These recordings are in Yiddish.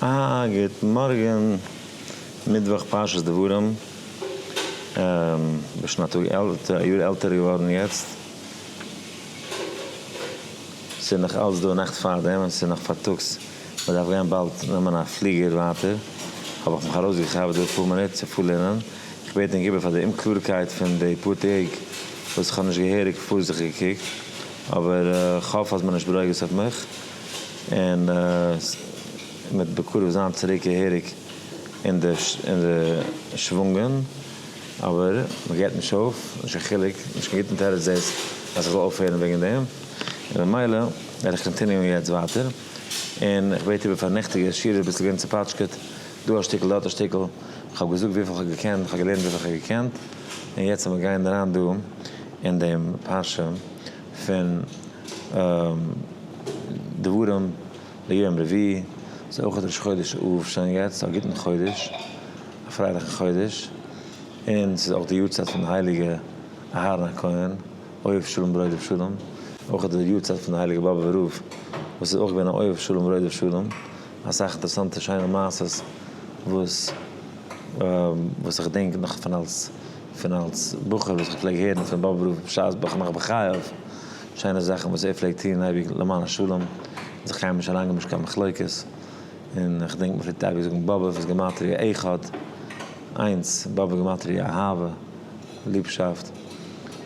א גוט מארגען, מיטוואך פרשת דברים, איך בין שוין א טאג עלטער, א יאר עלטער געווארן יעצט, ס'איז נאך אלץ דא נאכט פארדעם און ס'איז נאך פארטאגס, מ'דארף גיין באלד נעמען א פליגער ווייטער, האב איך מיך ארויסגעכאפט דא אפאר מינוט צו פארלערנען, איך בעט ענק איבער פאר די אומקלארקייט פון די פאר טעג וואס איך האב נישט געהעריג פארזיכטיג געקוקט. אבער איך האף אז מען נישט ברוגז אויף מיך, און עס מיט בקרוב זיין צוריק געהעריג אין די אין די שוואונגען, אבער מען געט נישט אויף, נישט קיין חילוק, נישט קיין גוטן תירוץ דאס אז איך זאל אויפהערן וועגן דעם, און ממילא וועל איך קאנטיניוען יעצט ווייטער, און איך בעט איבער פאר נעכטיגע שיעור אביסל געווען צופאטשקעט, דא א שטיקל דארט א שטיקל, איך האב געזאגט וויפיל איך האב געקענט, איך האב געלערנט וויפיל איך האב געקענט, און יעצט אז מען גייען אריין דא. אין דעם פרשה פון דברים ליום רביעי איז אויך ראש חודש אב, שוין יעצט א גוטן חודש, א פרייליכן חודש, און ס'איז אויך די יארצייט פון הייליגע אהרן הכהן, אוהב שלום ברודף שלום, אויך די יארצייט פון די הייליגע באבעווע רב וואס איז אויך געווען א אוהב שלום ברודף שלום, אסאך אינטערסאנטע שיינע מעשות וואס וואס איך דענק נאך פון אלס. פון אלס בחור וואס כ'פלעג הערן פון באבע רב בשעת בך נח בחייו, שיינע זאכן וואס ער פלעגט טון אייביג למען השלום, און זיך קיינמאל נישט אריינגעבן נישט קיין מחלוקת, און כ'דענק מ'פלעגט אייביג זאגן באבע'ס וואס גימטריא אחד, איינס, באבע גימטריא אהבה, ליבשאפט, זאל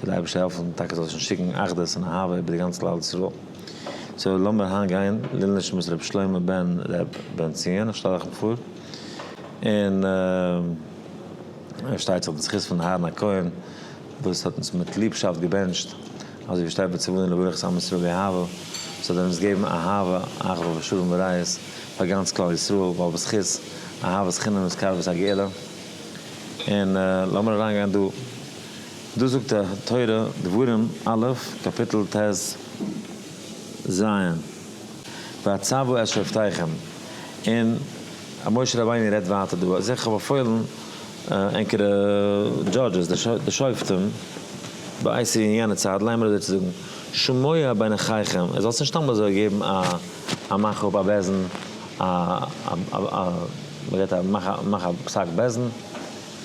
די אייבערשטער העלפן טאקע זאל שוין שיקן אחדות און אהבה איבער די גאנץ כלל ישראל. סאו לאמיר היינט גיין לעילוי נשמת רבי שלמה בן ר' בנציון, איך שטעל אייך פאר, און. פארשטייט זיך בזכות פון אהרן הכהן וואס האט אונז מיט ליבשאפט געבענטשט, אזוי ווי שטייט בצוואה און לברך את עם ישראל באהבה, זאל ער אונז געבן אהבה, אחווה ושלום ורעות פאר גאנץ כלל ישראל, ווייל בזכות אהבת חינם איז קרבת הגאולה. און לאמיר אריינגיין דא, דא זאגט די תורה, דברים א', קאפיטל טז, ז', והצבו את שבטיכם, און אז משה רבינו רעדט ווייטער דא, זיי כ'האב באפוילן ענקערע דזשאדזשעס, די שופטים בעת אין יענע צייט, לייען מיר אזוי צו זאגן, שמעו בין אחיכם, איר זאלטס נישט סתם אזוי געבן א א מאך אפ א בעסן, א א מ'רעדט א מאך א מאך א פסק בעסן,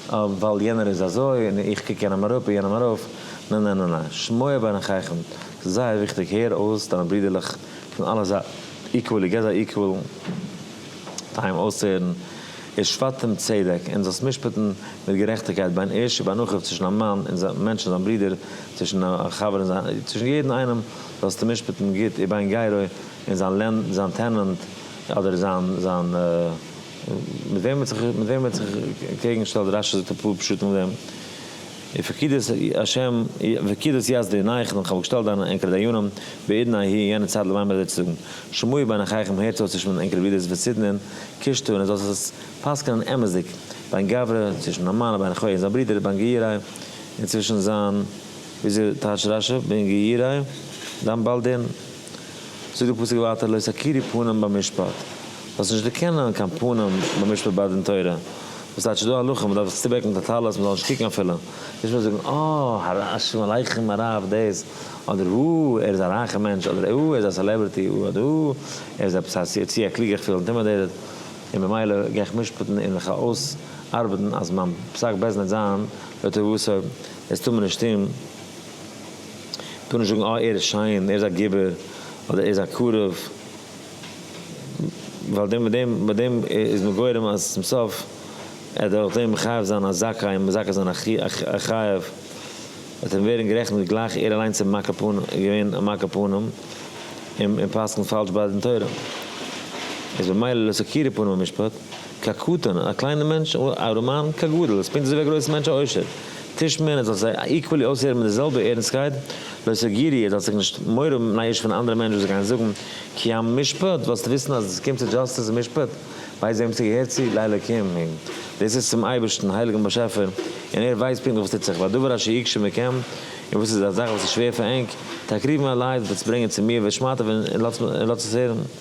ווייל יענער איז אזוי און איך קוק יענעם אראפ און יענעם ארויף, ניין ניין ניין ניין, שמעו בין אחיכם, ס'איז זייער וויכטיג, הער אויס דיינע ברידערלעך פון אלע זייטן איקוועלי, גיב זיי איקוועל טיים אויסצוהערן, איר שפטתם צדק, און זאלסט משפט'ן מיט גערעכטיגקייט בין איש ובין אחיו צווישן א מאן און זיין מענטש און זיין ברודער, צווישן א חבר און זיין, צווישן יעדן איינעם זאלסטו משפט'ן גוט איבער איין גייער און זיין לענ, זיין טענענט אדער זיין, זיין, מיט וועם ער האט זיך, מיט וועם ער האט זיך קעגנגעשטעלט, רשי זאגט אפאר פשטים אויף דעם. און פון קידוש השם וקידוש יז ל אין אייך, ווען כ'האב געשטעלט דיינע ענקערע דיינים בעידן א י אין יענע צייט למען מיר זיי צו זאגן, שמעו בין אחיכם הערטס אויס צווישן מיט ענקערע ברודערס פון סידנען, קישטו און איר זאלט עס פסק'נען אמת'דיג, בין גברא, צווישן א מאן, בין אחוי און זיין ברודער, בין געיריי, און צווישן זיין, וויאזוי טייטשט רשב בין געיריי? דיין בעל דין. זאגט דער פסוק ווייטער לא תכירי פנים במשפט, זאלסט נישט דערקענען קיין פנים במשפט ביי דין תורה, וואס טייטש איז דא הלכה מען דארף זיך צובעקן מיט א טלית מען זאל נישט קוקן אפילו, נישט מען זאל זאגן אה שלום עליכם הרב דאס, אדער אה ער איז א רייכע מענטש, אדער אה ער איז א סעלעברעטי, אדער אה ער איז עפעס א צו א קלוגער איך פיל אינטימעדעיטעד און ממילא גיי איך משפט'ן און מיך אויס ארבעטן אז מיין פסק בעסד וועט זיין לטובתו, דאס טאר מען נישט טון. טאר נישט זאגן אה ער איז שיין, ער איז א גיבור, אדער ער איז א קרוב, ווייל מיט דעם מיט דעם איז מען גורם אז צום סוף ער וועט דורך דעם מחייב זיין א זכאי און מזכה זיין א חייב, וועט אים ווערן גערעכנט גלייך ער אליינס איז מכה פנים געווען א מכה פנים און פסק'נט פאלש ביי דין תורה, איז ממילא לא סקירא פנים במשפט. ק קטן, א קליינער מענטש, א רמאן, ק גדול, איז פונקט אזויווי א גרויסער מענטש, א עושר. טישט מען, ער זאל זיי איקוועלי אויסהערן מיט די זעלבע ערנסטקייט, לא סגירי, ער זאל זיך נישט מורא נייאשן פון אנדערע מענטשן וואס זיי גייען זאגן, כי עם משפט, וועלסט וויסן אז עס קומט צו דזשאסטיס און משפט, ווייס וועם ס'געהערט צו, לאלוקים ה', דאס איז צום אייבערשטן, הייליגן באשעפער, און ער ווייסט פונקטליך וואס טוט זיך, והדבר אשר יקשה מכם, און וואס איז א זאך וואס איז שווער פאר ענק, תקריבון אליי, וועטס ברענגען צו מיר, ושמעתיו, און לאטס עס הערן.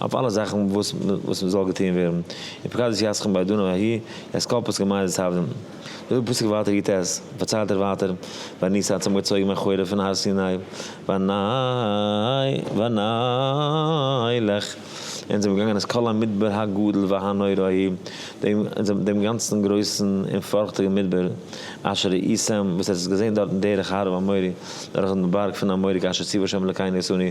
אויף אלע זאכן וואס וואס מ'זאל געטוהן ווערן, און פקד את ידכם בידו נא ההיא, יעצט קאפויס כמיין זיי סב ד. זאגט די פסוק ווייטער י ט, פארציילט ער ווייטער, ואני ס ה האט זיך אנגעצויגן מן החורף פון הר סיני, ואני ואני לך, און זיי זענען געגאנגען את כל המדבר הגדול והנורא ההיא, דעם דעם גאנצן גרויסן און פארכטיגן מדבר, אשר ראיתם, וואס עטס האט געזעהן דארטן דרך ההר ההמורי, דורכן בארג פון אמורי, כאשר ציוה ה' אלוקינו עשני,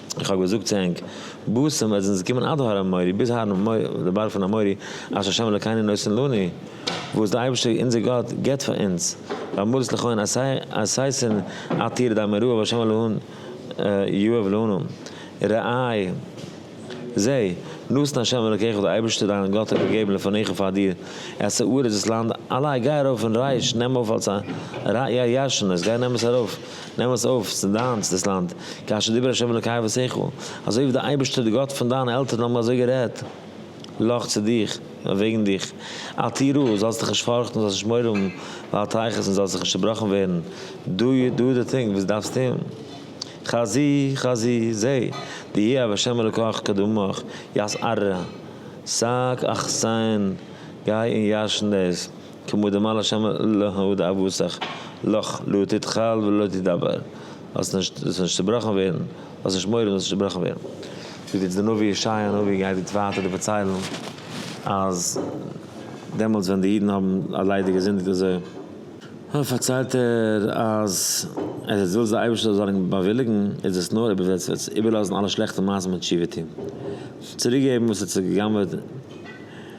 איך האב געזאגט צו ענק, בסם עז אונז קומען עד הר המורי', ביז הר המורי', די בארג פון המורי', אשר שם אלוקינו נותן לנו, וואס די אייבערשטער אונזער גאט געבט פאר אונז, ואמרת לכהן עשיתן עתיר דם מרועה והשם אלהון יואב לנו, ראי', זע, נתן השם אלוקיך, די אייבערשטער דיין גאט האט געגעבן לפניך פאר דיר, את הארץ דאס לאנד, אליי גיי ארויף און רייש, נעם אויף אלס א ראיה ישנה, גיי נעם עס ארויף. נעם עס אויף, ס'איז דיינס דאס לאנד, כאשר דיבר ה' אלוקי אבותיך, אזוי ווי די אייבערשטער די גאט פון דיינע עלטערן האבן אזוי גערעדט לך צו דיך און וועגן דיך, אל תירא, זאלסט דיך נישט פארכטן, זאלסט נישט מורא האבן, ואל תיחת, און זאלסט זיך נישט צעבראכן ווערן, דא דא די טינג וואס דו דארפסט טון, חזי חזי, זע, די ה א ה' אלוקיך קדמך, יסער, זאג, אכסן, גיי און ירשן דאס, כמו דאמר לשם להוד אבותיך לך לא תתחל ולא תדבר, זאלסט נישט זאלסט נישט צובראכן ווערן, האסט נישט מורא זאלסט נישט צובראכן ווערן. זאגט יעצט דער נביא ישעיה הנביא גייט יעצט ווייטער דא פארציילן אז דעמאלטס ווען די אידן האבן אוודאי געזינדיגט אזוי, פארציילט ער אז עס איז ווילסט די אייבערשטער זאל זיין באוויליגן איז עס נאר אויב ער וועט איבערלאזן אלע שלעכטע מעשים און תשובה טון, צוריק געבן וואס ער האט זיך גע'גנב'עט.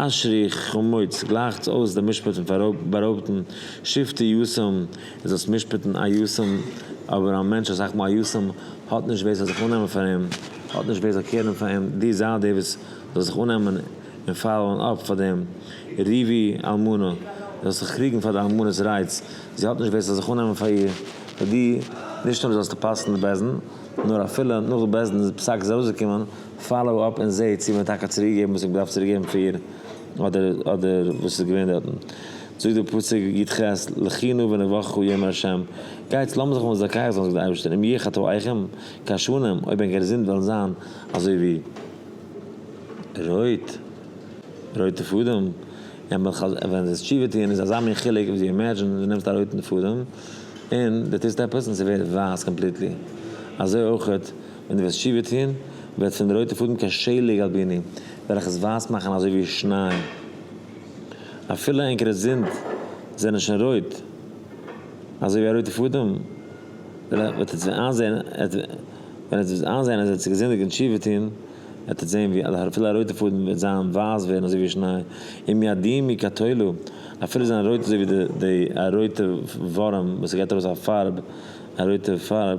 אשרי חמוץ, גלייכטס אויס דעם משפט פון בארויבטן שופטי יסעם איז דאס משפטן א יסעם, אבער א מענטש אסאך מאל א יסעם האט נישט ווער זאל זיך אננעמען פאר אים, האט נישט ווער זאל קעירן פאר אים, דו זייט דער וואס זאל זיך אננעמען און פאלאוען אפ פאר דעם ריבי אלמנה, זאלסט זיך קריגן פאר די אלמנה'ס רייטס, זי האט נישט ווער ס'זאל זיך אננעמען פאר איר, פאר דיר, נישט נאר זאלסטו פסק'ן די בעסטן, נאר אפילו נאך די בעסטן פסק איז ארויסגעקומען פאלאו אפ און זעה צו מען האט טאקע צוריק געגעבן וואס מען האט געדארפט צוריק געבן פאר איר אדער אדער וואס איז געווען דארטן. זאגט דער פסוק יט ח לכי נא ונברכו יאמר ה' גייטס לאמיר זיך מאל זאקייעס זאגן זאגט דער אייבערשטער אם יהיו חטאיכם כעשנים אויב ענקער זינד וועלן זיין אזוי ווי רויט רויטע פאדעם און מ'וועט חז ל ווען זיי תשובה טוען איז אזא מין חילוק ווי אימעדזשין דו נעמסט א רויטן פאדעם און דו טוסט עפעס און ס'ווערט ווייס קאמפליטלי אזוי אויכעט ווען דו וועסט תשובה טון, וועט פון די רויטע פאדן קיין שלג על ביני, וועל איך עס ווייס מאכן אזוי ווי שניי. אפילו ענקערע זינד זענען שוין רויט, אזוי ווי א רויטע פאדעם, וועט עטס ווען איינזען, ווען עטס וועט איינזען אז עטס איז געזינדיגט און תשובה טון, וועט עטס זען ווי אפילו א רויטע פאדן וועט זיין ווייס ווערן אזוי ווי שניי, אם ידים היא כתולו, אפילו זיין רויט אזוי ווי די א רויטע ווארעם וואס ס'געט ארויס א פארב, א רויטע פארב.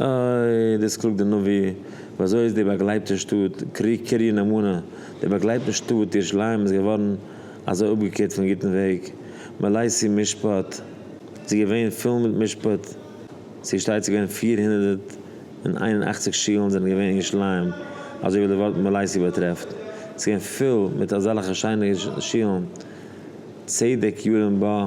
אוי, דאס קלאגט דער נביא, ווי אזוי איז די באגלייבטע שטאט קרית נאמנה, די באגלייבטע שטאט ירושלים איז געווארן אזוי אפגעקערט פון גוטן וועג, מלאיסי משפט, זי איז געווען פול מיט משפט, זי איז שטייצעך געווען פֿיר הונדערט און איין און אַכציק שולן זענען געווען אין ירושלים, אזוי ווי דער ווארט מלאיסי באטרעפט, זי איז געווען פול מיט אזעלכע שיינע שולן, צדק ירום בה.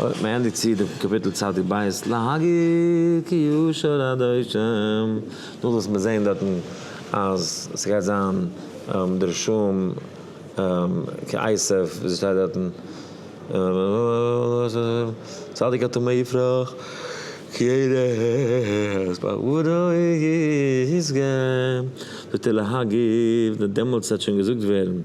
אויך מען ענדיגט צו די קאפיטל צדיק בית להגיד כי ישאל אדוני שם, דאס וואס מיר זעהן דארטן אז ס'גייט זיין דרשום כעשב ווי ס'שטייט דארטן צדיק הטמא יפרח כי ערש בעברו ישגה, זאגט ער להגיב, דעמאלטס וועט שוין געזאגט ווערן,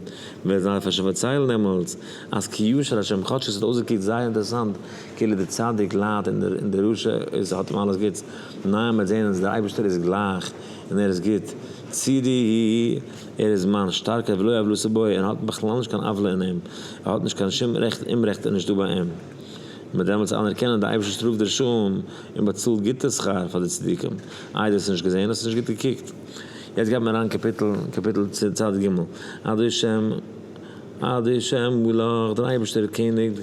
וועט זיין פארציילט דעמאלטס. אז קיום של השם כאטש עס האט אויסגעקוקט זייער אינטערעסאנט כאילו דער צדיק ליידט און דער רשע איז האט אים אלעס גוטס, ניין מ'העט זעהן אז דער אייבערשטער איז גלייך און ער איז גוט צו די ער איז מיין שטארקער ולא עוולותא בו ער האט בכלל נישט קיין עוולה אין אים ער האט נישט קיין שום רעכט אומרעכט איז נישטא ביי אים מ'וועט דעמאלטס אנערקענען דער אייבערשטער שטראפט די רשעים און באצאלט גוטע שכר פאר די צדיקים, איי דו האסט נישט געזעהן האסט נישט גוט געקוקט יעצט גייט מען אריין קאפיטל קאפיטל צד ג' אדוי שם. עד איש ה' מלך, דער אייבערשטער איז קעניג,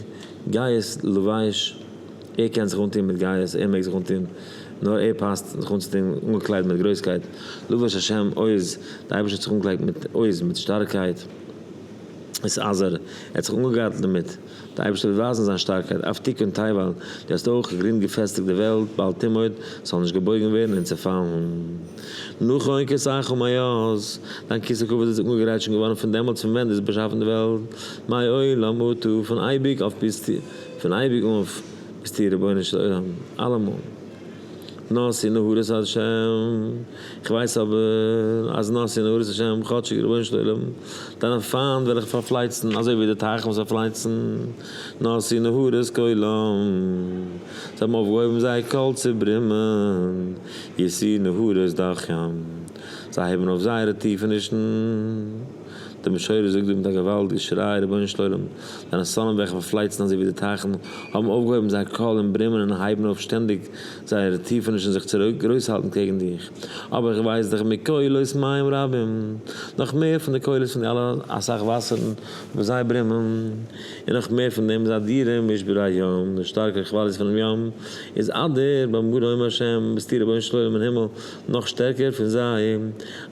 גייסט לבייש, ער קען זיך אנטון מיט גייסט, ער מעג זיך אנטון, נאר ער פאסט, זיך אנצוטון, אנגעקליידט מיט גרויסקייט, לבש השם עוז, דער אייבערשטער האט זיך אנגעקליידט מיט עוז, מיט שטארקייט, איז עזר, ער האט זיך אנגעגארטלט דערמיט. די אייבערשטער וועט ווייזן זיין שטארקייט אויף תיקון טייוואן, דו האסט אויך גרינד געפעסטיגט די וועלט, בל תימות, ס'זאל נישט געבויגן ווערן און צעפאלן. נכון אין כסאיכו מאז, דיין כסא כבוד איז אנגעגרייט שוין געווארן פון דעמאלטס פון ווען דו האסט באשאפן די וועלט, מעולם אתה, פון אייביג אויף ביזט פון אייביג אויף ביזטו רבונו של עולם אלעמאל נשיא נהרות ה'. איך ווייס אבער אז נאסי און עבודת השם כאטשיג רבונו של עולם דיינע פיינט וועל איך פארפלייצן אזוי ווי די טייכן וואס פארפלייצן נאסי נהרות כולם זיי האבן אויפגעהויבן זייער קול צו ברימען ישיא נהרות דחים זיי הייבן אויף זייערע טיפענישן דער משורר זאגט דא מיט א געוואלד געשריי רבונו של עולם דיינע סלים וועל איך פארפלייצן אזוי ווי די טייכן האבן אויפגעהויבן זייער קול און ברימען און הייבן אויף שטענדיג זייער טיפעניש און זיך צוריק גרויס האלטן קעגן דיך, אבער איך ווייס דיך מקולות מים רבים, נאך מער פון די קולות פון די אלע אסאך וואסערן וואס זיי ברומען, און נאך מער פון דעם איז אדירים משבר הים, די שטארקע כוואליעס פונעם ים, איז אדיר במרומים השם, ביסטו רבונו של עולם אין הימל נאך שטערקער פון זיי,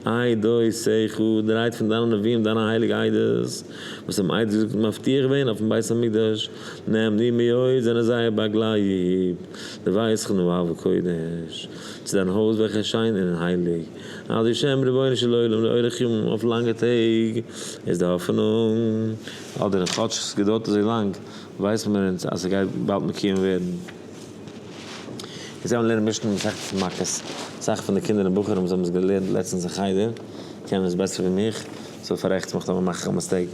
איי דאותיך, די רייד פון דיינע נביאים דיינע הייליגע עדות, וואס האבן עדות געזאגט און מבטיח געווען אויפן בית המקדש, כ'נעם דיר מיאוס זענען זייער באגלייב, דו ווייסט כ'נעם אהבה קודש צו דיין הויז וועלכע איז שיין און הייליג, אז בשם רבונו של עולם לאורך ימים אויף לאנגע טעג איז די האפענונג, אדער כאטש ס'געדוירט אזוי לאנג ווייסן מיר אונז אז ס'גייט באלד מקוים ווערן. אונז זעמיר לערנען משנ ו מסכת מכות, אסאך פון די קינדער און בחורים זעמיר עס געלערנט לעצטענס אין חדר קענען עס בעסער ווי מיך, סאו פארעכטס מיך טאמער מאך איך א מיסטעיק.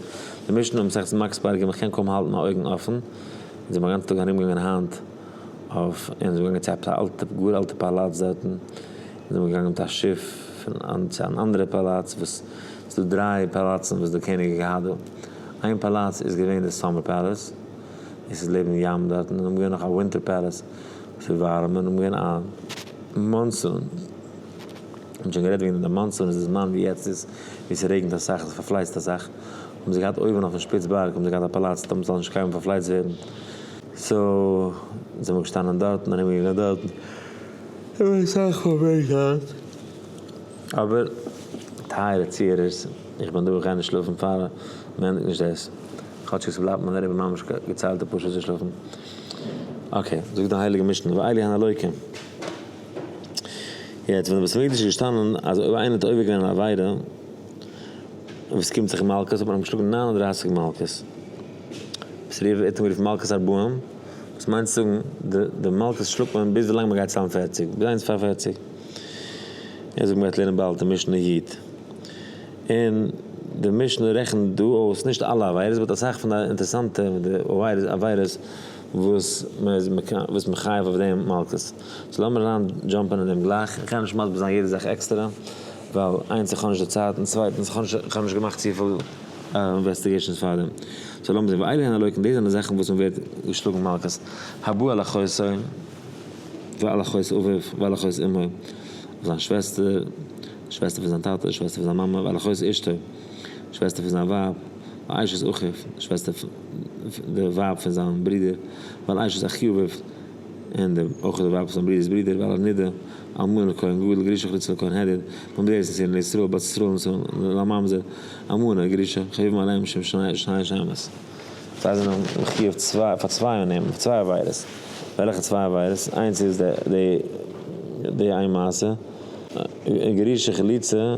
די משנה מסכת מכות פרק ג' כ'קען קוים האלטן מיין אויגן אפן, אונז זעמיר גאנצע טאג ארומגעגאנגען היינט אויף אונז זעמיר געגאנגען צו עפעס א אלטע גאר אלטע פאלאץ דארטן, אונז זעמיר געגאנגען מיט א שיף פון אן צו אן אנדערע פאלאץ וואס ס'איז דא דריי פאלאצן וואס די קעניג האט געהאט דא, איין פאלאץ איז געווען די סאמער פעלעס און ס'איז לעבן ים דארטן און האבן געווען נאך א ווינטער פעלעס וואס איז ווארעם און האבן געווען א מאנסון. מ'האט שוין גערעדט וועגן די מאנסון איז די זמן ווי יעצט איז ווי ס'רעגנט אסאך און ס'פארפלייצט אסאך האבן זיי געהאט אויבן אויפן שפיץ בארג האבן זיי געהאט א פאלאץ דארט מ'זאל נישט קיינמאל פארפלייצט ווערן סאו זעמער געשטאנען דארט און ארום געגאנגען דארט האבן מיר אסאך פראבלעמען געהאט אבער טייערע צוהערערס איך בין דא איך גיי נישט שלאפן פאר מ'ענדיגט נישט דאס כאטשיג ס'בלייבט מיין לעבן ממש געציילטע פאר שעות צו שלאפן אקעי זאגט די הייליגע משנה ואלי הן אלוקים. יעצט ווען די בית המקדש איז געשטאנען אז אויב איינער האט עובר געווען אן עבירה און עס קומט זיך מלקות האט מען אים געשלאגן נײַן און דרײַסיק מלקות וואס רוב האט מען גערופן מלקות ארבעים וואס מיינט צו זאגן די די מלקות שלאגט מען ביז ווילאנג מען גייט ציילן פערציג ביז איינס פאר פערציג און אזוי ווי מען גייט לערנען באלד אין משנה י און די משנה רעכנט דא אויס נישט אלע עבירות באט אסאך פון די אינטערעסאנטע עבירות וואס מען איז מחייב אויף דעם מלקות. סאו לאמיר אריין דזשאמפען אין דעם גלייך, איך גיי נישט מסביר זיין יעדע זאך עקסטערע, ווייל איינס איך האב נישט די צייט, און צווייטענס איך האב נישט געמאכט צופיל אינוועסטיגעישאנס פארדעם, סאו לאמיר זען, ואלה הן הלוקים, דאס זענען זאכן וואס מען ווערט געשלאגן מכות, הבא על אחותו, ועל אחות אביו, ועל אחות אמו, אויף זיין שוועסטער, שוועסטער פון זיין טאטע, שוועסטער פון זיין מאמע, ועל אחות אשתו, שוועסטער פון זיין ווייב, ועל אשת אחיו, שוועסטער די ווייב פון זיין ברודער, ועל אשת אחיו אביו, און אויך די ווייב פון זמרי'ס ברודער בעל הנדה, אלמנה לכהן גדול גרושה חלוצה לכהן העדד, בן בני ארץ נציון לישראל בת ישראל נצור לממזר, אלמנה גרושה, חביבים עליהם משום שני שמות. זיי זענען מחיוב צוויי פאר צוויי און אים, צוויי עבירות. וועלכע צוויי עבירות? איינס איז די די איין מעשה, א גרושה חלוצה,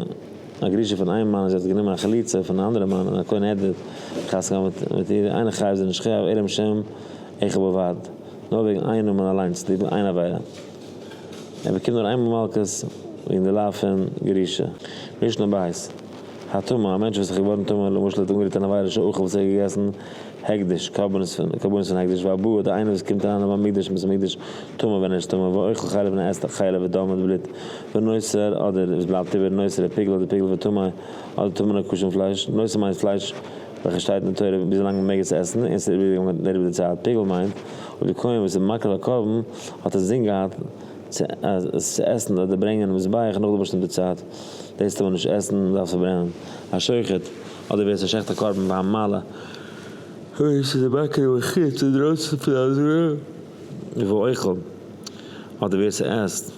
א גרושה פון איין מאן און זי האט גענומען א חלוצה פון א אנדערע מאן און א כהן העדד, חתונה געהאט מיט איר, איינער חייב זי נישט חייב עלם שם אחד בלבד. נאר וועגן איין נאמען אליינס טוט מען איין עבירה. ער באקומט נאר איינמאל מלקות וועגן די לאו פון ירושה. משנה ב', הטמא, א מענטש וואס איז געווארן טמא, למשל ער האט אנגערירט אן עבירה של אוכל וואס ער האט געגעסן הקדש, קרבנות פון הקדש, והבא, דער איינער וואס קומט אריין אין בית המקדש און עס איז מקדש טמא ווען ער איז טמא, ואוכל חלב און ער עסט א חלב ודם מיט בלוט, ונוסר, אדער וואס בלייבט איבער, נוסר, א פיגל אדער פיגל וטמא, אדער טמא נאר כשר פון פלייש, נוסר מיינט פלייש. וועלכע שטייט אין תורה וויזלאנג מען מעג עס עסן, און עס איז איבערגעגאנגען דעריבער די צייט, פיגול מיינט, אויב די כהן וואס איז מקריב א קרבן האט אינזין געהאט צו עס צו עסן אדער ברענגען אין מזבח נאך די באשטימטע צייט, דאס טאר מען נישט עסן, מען דארף עס פארברענען, א שוחט, אדער ווער עס שחט א קרבן ביי א מעלה, און עס איז אים מקריב א חוץ אינדרויסן פון א זרע ואוכל, אדער ווער עס עסט.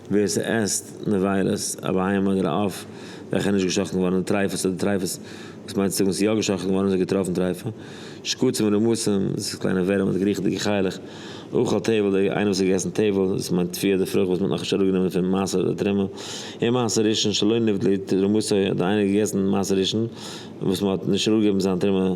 ווער ס'עסט נבילות, א בהמה אדער א עוף, וועלכע איז נישט געשחט'ן געווארן אין טריפות אדער טריפות, וואס מיינט צו זאגן ס'איז יא געשחט'ן געווארן און ס'האט געטראפן טריפה, שקצים ורמוסים, דאס איז קליינע ווערים אדער געריכעדיגע חיה'לעך, אוכל תבל, דער איינער וואס האט געגעסן תבל, דאס מיינט טפי' אדער פרוכט וואס מ'האט נאכנישט אראפגענומען פון מעשר אדער תרומה, און מעשר ראשון שלא נבדלה תרומתו, האט דער איינער געגעסן מעשר ראשון וואס מ'האט נישט אראפגעגעבן זיין תרומה,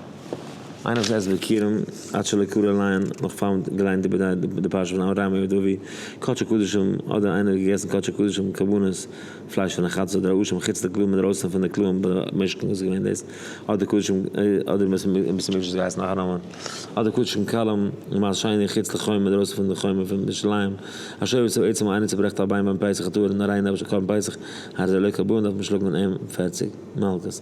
איינער וואס עסט בעקירם עד שלא קרא לעיין נאך פאר מ'האט געליינט איבער די פרשה פון אברהם אבן דוד קדשו קדשים אדער איינער האט געגעסן קדשו קדשים קרבנות פלייש פון א חתס אדער א אשה מחוץ לכלאים אינדערויסען פון די כלאים במשכן וואס איז געווען דאס אדער קדשים אדער ביז ס'איז מישט געהייסן נאך א נאמען אדער קדשים קלים למען שיני חוץ לחומה אינדערויסען פון די חומה פון ירושלים א שור וואס איז עצם א עני צוברעכט א ביין ביים פסח האט אור איז נאר ריין נפש על כל פסח הרי זה לא כבוד דארף מען שלאגן אים פֿערציק מלקות.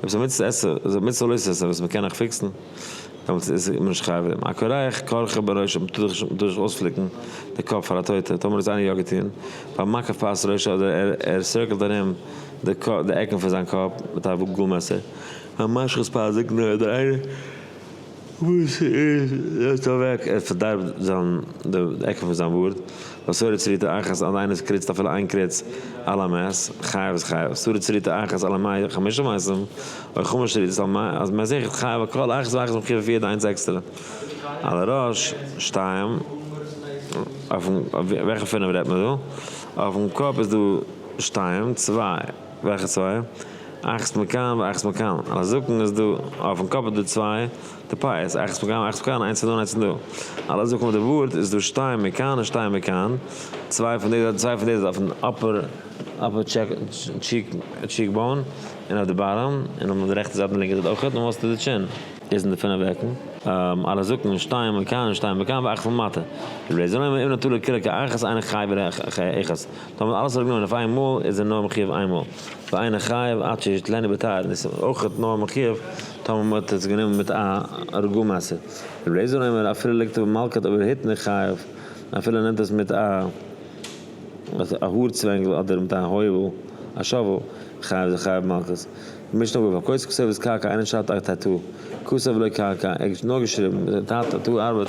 עפעס א מצוה עשה, איז א מצוה לעשות עשה וואס מען קען נאך פיקסן, דעמאלטס איז מען נישט חייב דעם הכורך כורכו בראשו, מען טאר זיך נישט אויספליקן די קאפ פאר א טויטע, טאמער האט עס איינער יא געטון, ביים מקף פאת ראשו אדער ער ער סירקלט ארום די עקן פון זיין קאפ מיט א גאל מעסער, ביים משחת פאת זקנו אדער איינער. וואס איז דאס דא אוועק? ער פארדארבט זיין די עקן פון זיין בארד, ווייל סורי צריתא אחת אז איינער עס קריצט אפילו איין קריץ על המת, חייב איז חייב, סורי צריתא אחת על המעיל חמשה מעשים, אוי חמש שריתות על מעיל, אז מען איז עכט חייב על כל אחת ואחת מחיוב אויף יעדע איינס עקסטערע. על הראש, שתיים, אויפן, וועלכע פינף רעדט מען דא? אויפן קאפ איז דא שתיים, צוויי. וועלכע צוויי? אייך'ס מקאן ואייך'ס מקאן. אויף א זקן איז דא, אויפן קאפ איז דא צוויי טפייעס, אייך'ס מקאן ואייך'ס מקאן, איינס פון דא און איינס פון דא. אויף א זקן מיט די בארד איז דא שטיין מכאן און שטיין מכאן, צוויי פון דאס צוויי פון דאס אויפן אפער טשיק באון און אויף די באטאם, און אויף די רעכטע זייט און לינקע זייט אויך, און וואס איז די טשין? איז אין די פינף עקן. אויף א זקן שטיין מכאן און שטיין מכאן ואייך'ס למטה. רבי זלמן איבן נטליה קילא כאחד אינו חי בלא אחד. טאמער האט מען אלעס אראפגענומען אויף איין מאל איז ער נאר מחיוב איין מאל, ואינו חייב עד שישתלנו בתר, און עס איז אויך נאר מחיוב טאמער מען האט עס גענומען מיט א הרגו מעשה, רבי אליעזר אומר אפילו ליגט ער במלקט אויב ער היט נישט חייב, אפילו ער נעמט עס מיט א האר צווענגל אדער מיט א הויבל, א שאוועל, חייב איז ער חייב במלקט. משנה בבא כוס כסוית קרקע אינו שת א ת ת כסוית ולא קרקע, ער האט נאר געשריבן, ת ת ארבעט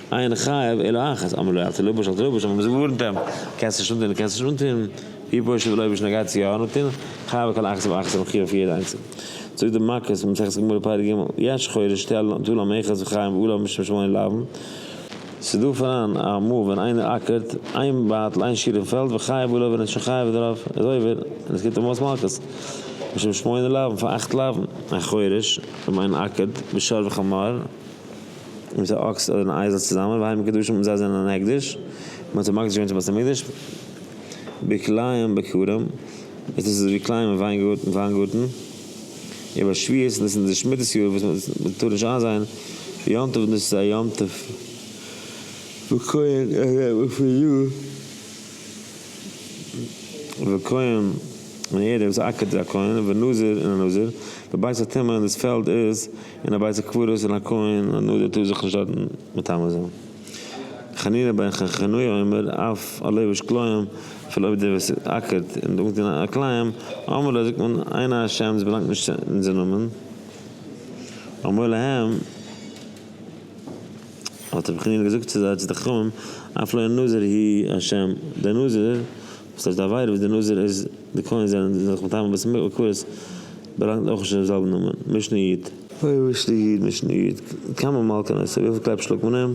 אין חייב אלא אחת, אמר לו אתה לובש אל תלובש, האבן מיר זיך געווארנט אים, קענסט נישט אנטון, קענסט נישט אנטון, ווי פשוט ווי לויביש נוגע צו יא אנטון, חייב על כל אחת ואחת און מחיוב אויף יעדע איינצעל. זאגט די מק ס, מסכת גמור פרק ג', יש חורש שטעלן אנטו לו מאחז וחיים ואו לה משום שמעון לבן, ס'איז דא פאראן א מאל ווען איינער אקערט איין בייטל איין שיעור אין פעלד וחייב אולי ווען ער איז שוין חייב דערויף, איז עובר, און עס קומט אים אויס מלקות, משום שמעון לבן, פאר אכט לבן, א חורש, ווען איינער אקערט בשור וחמור. און ס'איז א אקס אדער אן אייזל צוזאמען, והי' מקדשים און זיי זענען אן הקדש, מען האט זיי מקדיש געווען צום בית המקדש, בכלאיים בכרם, און דאס איז ווי כלאיים אין וויינגארטן, איבער שביעית, און דאס איז די שמיטת יאר וואס מען טאר נישט איינזייען יום טוב, און דאס איז א יום טוב וואס כהן ארעם און פון יאר, וכהן און ערב איז א עקד און א כהן, ונזיר און א נזיר, ובית הטומאה און דאס פעלד איז און א בית הקברות און א כהן א נאדער טאר זיך נישט דארטן מטמא זיין. חנינא בן חנוכי' אומר אף א לובש כלאים אפילו אויב דער וואס איז עקרת און טראגט אין א כלאים, אמר לה זאגט מען עיני השם דאס באלאנגט נישט צו אונזער נאמען, אמר להם האט רבי חנינא געזאגט צו זיי צו די חכמים אף לא נזיר היא השם דער נזיר וואס הייסט די עבירה וואס די נזיר איז די כהן זענען די זעלכע מטעמים ביצים מקורות באלאנגט אויך נישט אין דעם זעלבן נאמען משנה יט. אוי משנה יט משנה יט כמה מלקן עשו וויפיל קלעפ שלאגט מען אים?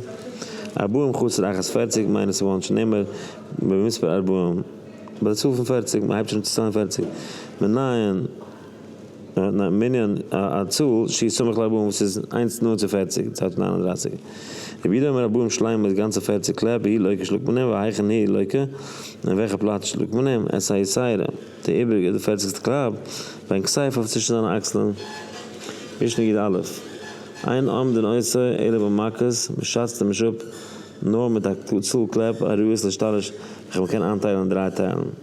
ארבעים חצר אחת פערציג מיינען ס'וואלט נישט נעמער במספר ארבעים ביי די צאל פון פערציג מ'הייבט שוין אן צו ציילן פערציג מנין? אין א מנין א צאל שי סומך לב אן וואס איז איינס נאנט צו פֿערציק, צייט פון נײַן און דרײַסיק רבי איד האמיר ארבעים שלימה איז גאנצע פֿערציק קלעפ אי לויקע שלאגט מען אים והיכן אי לויקע אין וועלכע פלאץ שלאגט מען אים עס איי סיירא די איבריגע די פֿערציקסטע קלאפ ווען כסייף אויף צווישן זיינע אקסלען משנה ג א אין עמדין עושה אלא במכות מען שאצט אים נישט אפ נאר מיט א צאל קלעפ א ראי' עס להשתלש וועלכע מען קען איינטיילן אין דריי טיילן.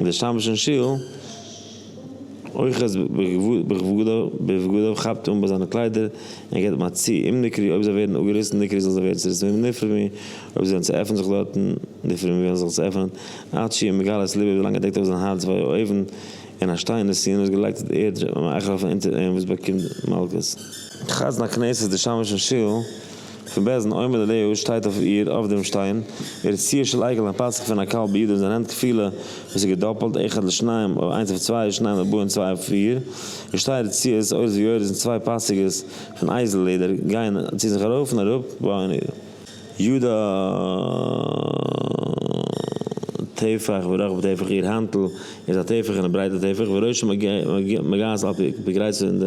און דער שמש אין שול אוחז בבגדיו כאפט אן ביי זיינע קליידער און געבט מיט צו אים נקרי אויב זיי ווערן אפגעריסן נקרי זאל זיי ווערן צוריסן ממנו נפרע מ אויב זיי וועלן צועפענען זיך דארטן נפרע מ וועלן זיי זיך צועפענען עד שיהיה מגלה את לבו ווילאנג ער דעקט אויף זיין הארץ וויי א אויוון און א שטיין און סינער איז געלייגט אויף די ערד מאכל פון אונטער אים וואס באקומט מלקות. חזן הכנסת דער שמש אין שול פון בעסטן עומד עליה שטייט אויף איר אויף דעם שטיין איר ציור של עגל און פסח פון א קל בידו זיין הענט כפילה וואס איז געדאפלט אחד לשניים אויב איינס אויף צוויי איז שניים לבוא און צוויי אויף פיר איר שטייער ציור זעט אויס ווי אויב עס זענען צוויי פאסיגעס פון אייזל לעדער גייען צו זיך ארויף און אראפ בה און איר יד א טפח ורחב טפח איר האנטל איז א טפח און א ברייטע טפח וראשה מגעת על פי גרייס פון די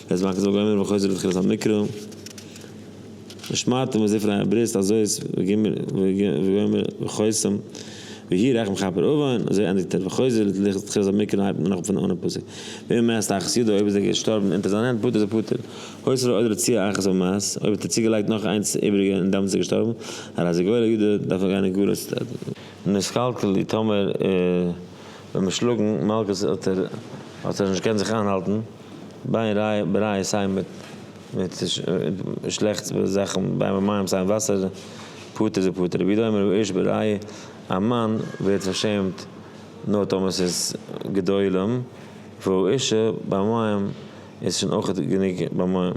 דאס מאכט זאגן אמר וחוזר בתחילת המקרא, ושמרתם את זפרי הברית הזאת וגומר וחותם והי' רחם כפר אבן, אזוי ענדיגט ער, וחוזר לתחילת המקרא הייבט מען אן פון אנהייב פסוק, ואם מת אחת ידו אויב איז ער געשטארבן אונטער זיין הענט פטור איז ער פטור, הוספה עוד רצועה אחת אויב מת, אויב האט ער צוגעלייגט נאך איינס איבריגע און דאמאלס איז ער געשטארבן, הרי זה גורל ידו דארף ער גיין אין גלות. נסקלקל די טאמער ווען מען שלאגן מלקות האט ער נישט געקענט זיך איינהאלטן. ביין רייע סיי מיט שלעכטס זאכן ביין מיט מים סיי מיט וואסער פטור זה פטור רבי דומר רבי אויש ברייע א מאן ווערט פארשעמט נאר טאמער ס'איז גדולים וואו אישה ביי מים איז שוין אויך גענוג ביי מים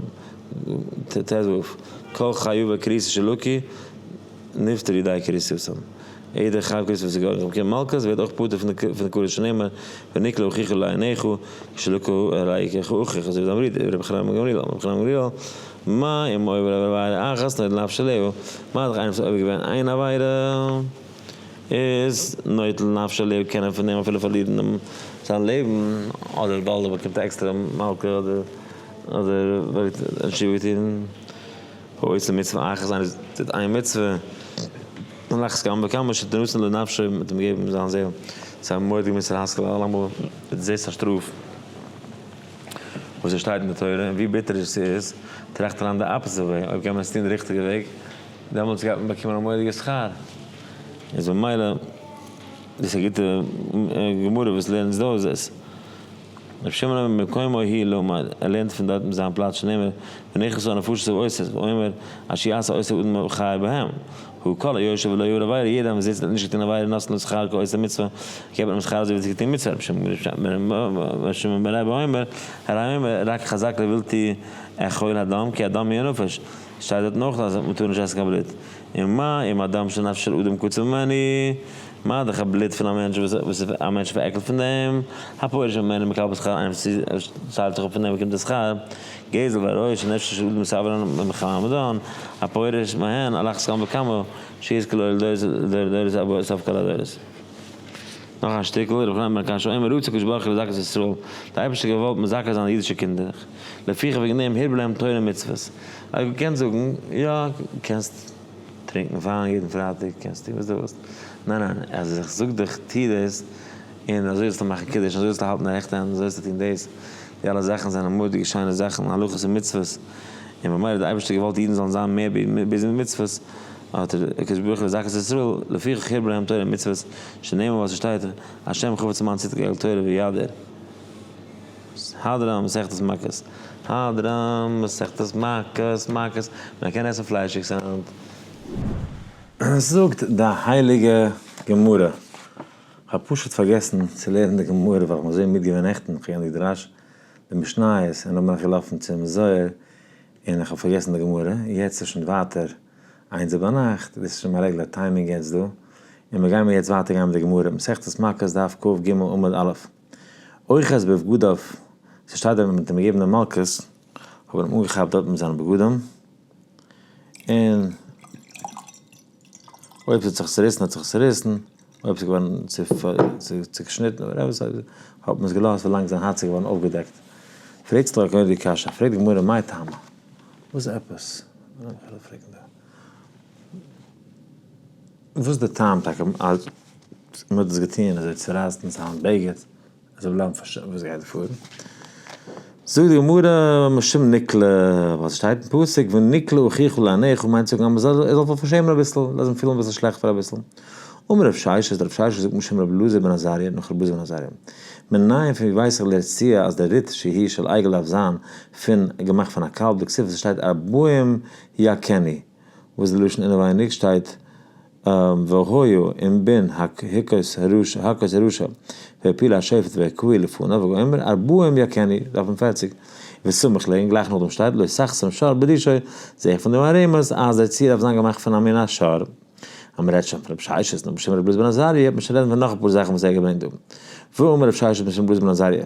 ט ו כל חיובה כריסי שלוקי. נפטר ידי כריסוסם. איעדער חב כריסוס וואס איז געווארן רב קרן מלכות ווערט אויך פטור פון די פון קדוש שנאמר ונקלה אוכיחו לעיניך שלא כהראי' איך אוכיח אזוי ווי די אמרי ר' חנניה בן גמליאל אמר ר' חנניה בן גמליאל מה אם עובר עובר עבירה אחת נוטל נפשו להו מה דאך איינער וואס האט עובר געווען איין עבירה איז נוטל נפשו להו קען ער פון דעם אפילו פארלירן דעם זיין לעבן אדער ווייל ער באקומט עקסטערע מלקות אדער אדער ווייל ער האט שווער געטון. הוי ס מצוה אייך זיין איז טוט איין מצוה און לאכטס כמה וכמה שתנוסנה לנפשי מיט אים געבן זיין זעהל צו א מורא'דיגע מוסר השכל אלעמאל וועט זעסט א שטראף וואס עס שטייט אין די תורה און ווי ביטער עס איז טראכט אריין די אפעסיט וועי אויב קען מען עס טון די ריכטיגע וועג דעמאלטס גייט מען באקומען א מורא'דיגע שכר איז ממילא דאס איז א גוטע גמרא וואס לערנט אונז דא איז עס. רבי שמעון אומר ממקומו הי' לעומד, ער לערנט פון דארטן זיין פלאץ שנאמר ונכסו הנפשות אבו עוסק, והוא אומר אשר יעשה עוסק אדם וחי בהם הוא כל היושב ולא יעבור עבירה, יעדער וואס זיצט און האט נישט געטון עבירה נתנו לו שכר כעושה מצוה, געבט מען אים שכר אזוי ווי ער האט געטון מצוה, רבי שמעון בן רבי אומר הרי אומר רק חזק לבלתי עכול הדם כי הדם היא הנפש, שטייט דארטן אויך אז מ'טאר נישט עסן קיין בלוט, און מה עם אדם שנפש של אדם קצר ממנו, מה איז דאך א בלוט פון א מענטש וואס איז א מענטש פארעקלט פון דעם, הפורש ממנו מקבל שכר איינער וואס ציילט זיך אפ פון דעם באקומט ער שכר, גזל והרעוש שנפשו של אדם סבל אדם מחמת מדון, הפורש מהן על אחת כמה וכמה שיש כלא לדורי דורות אבא או סוף כל הדורות. נאך א שטיקל, רבי חנן בן הקשיא אומר רצה הקדוש ברוך הוא לזכות את ישראל, די אייבערשטער האט געוואלט מזכה זיין אידישע קינדער, לפיכך וועגן דעם הירב להם תורה ומצוות. אויב דו קענסט זאגן, יא, קענסט טרינקן וויין יעדן פרייטאג, קענסט טון וואס דו ווילסט, ניין ניין, אז איך זאג דיך טו דאס, און אזוי זאלסטו מאכן קידוש, אזוי זאלסטו האלטן די רעכטע הענט, אזוי זאלסטו טון דאס, די אלע זאכן זענען מורא'דיגע שיינע זאכן, הלכות און מצוות, און ממילא האט דער אייבערשטער געוואלט אידן זאלן זיין מער ביזי מיט מצוות, האט דער הקדוש ברוך הוא לזכות את ישראל, לפיכך הרבה להם תורה ומצוות, שנאמר וואס עס שטייט, השם חפץ למען צדקה יגאל תורה וידר. סהדרן און מסכת מכות, סהדרן, מסכת מכות, מכות, מען קען עסן פליישיגס היינט? זאגט די הייליגע גמרא, כ'האב פשוט פארגעסן צו לערנען די גמרא ווייל כ'בין אזוי מיד געווען נעכטן, כ'האב געלערנט די דרש, די משניות, און נאך בין איך געלאפן צום זוהר און איך האב פארגעסן די גמרא, יעצט איז שוין ווייטער איינס ביינאכט, דאס איז שוין מיין רעגלער טיימינג יעצט דא, און מיר גיימער יעצט ווייטער גיין מיט די גמרא, מסכת מכות דף קג עמוד א'. אויך אז בבגדיו, ס'שטייט דארט מיט די געבענע מלקות, האבן אים אנגעכאפט דארט מיט זיינע בגדים, און אויב ס'האט זיך צוריסן האט זיך צוריסן, אויב ס'איז געווארן צוקשניטן אדער עפעס אזוי, האט מען עס געלאזט ווילאנג זיין הארץ איז געווארן אויפגעדעקט. פרעגסט דאך גראדע די קשיא, פרעגט די גמרא מאי טעמא? וואס עפעס? וואס די טעם טאקע אז מען האט דאס געטון אזוי צורייסט אין זיין בגד אז זאל בלייבן פאר שנים וואס גייט פאר? זאגט די גמרא משום נקלה ווייל ס'שטייט אין פסוק ונקלה אחיך לעניך מיינט צו זאגן אז מען זאל זיך פארשעמען אביסל לאז אים פילן אביסל שלעכט פאר אביסל אמר רב ששת רב ששת זאגט משום רבי אלעזר בן עזריה נאך רבי אלעזר בן עזריה מנין פון ווי ווייס איך לרציע אז די ריט שהיא של עגל דארף זיין פון געמאכט פון א קאלב דקסיפא ס'שטייט ארבעים יכני וואס די לשון אינעווייניג שטייט והיו און בין הקהות הרשע והעפיל השופט והקהל לפניו ואומר ארבעים יכני, דף נ פֿערציק, וסמוך ליה און גלייך נאכדעם שטייט לא שחסם שור בדישו, זעה איך פון דעם א רמז אז דער ציר דארף זיין געמאכט פון א מין א שור. אז מען רעדט שוין פון רבי ששת נאך בשם רבי בלעז בן עזריה, מען שוין רעדן פון נאך אפאר זאכן וואס ער האט געברענגט דא. ואמר רבי ששת בשם בלעז בן עזריה.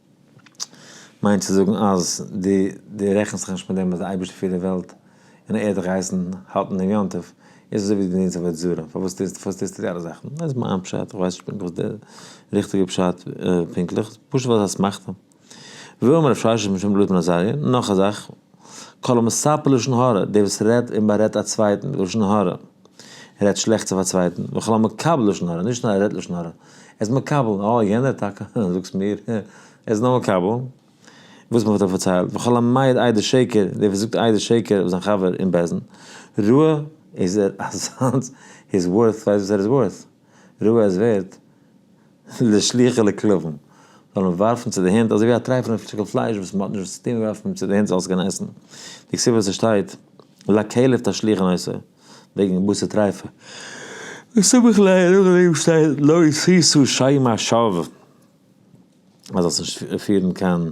מיינט צו זאגן אז דו רעכנסט זיך נישט מיט דעם אז די אייבערשטער פירט די וועלט און ער האט דיך געהייסן האלטן דעם יום טוב, איז אזוי ווי דו דינטס עבודה זרה, פארוואס טוסטו די אלע זאכן? דאס איז מיין פשט, איך ווייס נישט פונקטליך וואס די ריכטיגע פשט פונקטליך, פשוט ווייל ס'איז אסמכתא. ואמר רב ששון משום לויט ר' עזריה, נאך א זאך. כל המספר לשון הרע, דער וואס רעדט און בארעדט א צווייטן לשון הרע, רעדט שלעכטס אויף א צווייטן, וכל המקבל לשון הרע, נישט נאר ער רעדט לשון הרע, ער איז מקבל, אה יענער טאקע, אה, זאגסט מיר, אה, ער איז נאר מקבל, וואס מען האט אים פארציילט, וכל המעיד עדות שקר, דער וואס זאגט עדות שקר אויף זיין חבר אין בעסן, ראה איז ער אזאנס, הי איז ווארט, ווייסט וואס ער איז ווארט, ראה ער איז ווערט. די שליח'עלע כלבים זאלן ווארפן צו די הינט אזוי ווי א טרייפענע שטיקל פלייש וואס מ'האט נישט וואס צו טון ווארפט מען אים צו די הינט זאל עס קענען עסן, די כסובה וואס עס שטייט לא כלב תשליך אין עושה וועגן בשר טריפה, די סמך ל ע נאך דעם שטייט לא ישישו שם השב ק אז זאלסט נישט פירן קיין.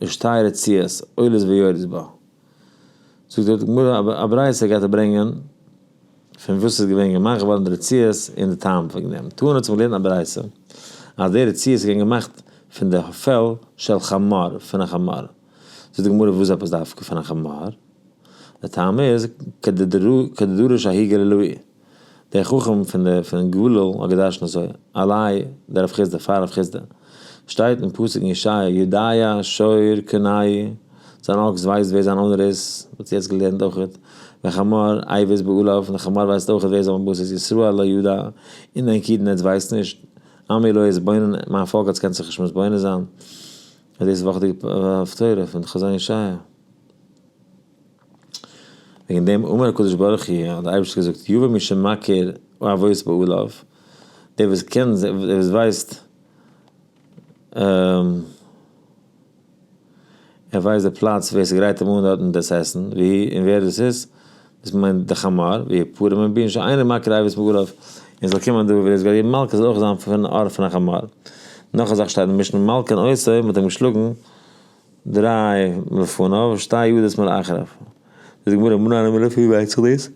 איך שטיי רציעס עולות ויורדות בה. זאגט דארט די גמרא א ברייתא גייט ער ברענגען פון וואס איז געווען געמאכט געווארן די רציעס און די טעם וועגן דעם טאר האט זיך געלערנט א ברייתא אז די רציעס איז געווען געמאכט פון די פעל של חמור פון א חמור זאגט די גמרא וואס עפעס דווקא פון א חמור די טעם איז כדדרוש ההיגע ללוי'. דער חכם פון די פון גליל האט געדרשנט אזוי, אליי די רב חיסדא פאר רב חיסדא, שטייט אין פסוק אין ישעיה יודעי שור קנאי, זיין אקס ווייסט ווער זיין אונער איז, וואלסט יעצט געלערנט אויכעט, והחמור עיווס בעליו, די חמור ווייסט אויכעט ווער איז אויפן באס, איז ישראל לא ידע, און דיין קידנע עטס ווייסט נישט, עמי לא יתבונן, מיין פאלק עטס קענט זיך נישט מתבונן זיין, דאס איז וואכעדיגע הפטורה פון חזון ישעיה. וועגן דעם אמר הקדוש ברוך הוא האט דער אייבערשטער געזאגט יבא מי שמכיר אבות באלעו דער וואס קען דער וואס ווייסט ער ווייסט די פלאץ ווער ס'גרייט אים אן דארטן דאס עסן ווי און ווער דאס איז דאס מיינט די חמור ווי פורים און בין שוין איינער מכיר אבות באלעו און זאל קומען דא ווער עס גייט געבן מלקות זאל אויך זיין פון ארט פון א חמור נאך א זאך שטייט אין משנה מלקה און עושה האט אים געשלאגן. דריי לפניו שתי ידות מאחריו, זאגט די גמרא מנין אמר לפי ווער ווייסט זיך דאס?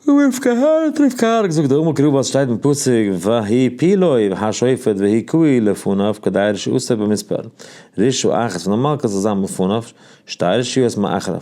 רבי רבקה הארט ר' רבקה הארט זאגט דאמר קרוב אז שטייט אין פסוק והי' פילוי וה' שופט והי' קוהי לפניו כדי רשעותו במספר רישא אחת פון די מלכות זאל זיין מלפניו שתי רשעות מאחריו.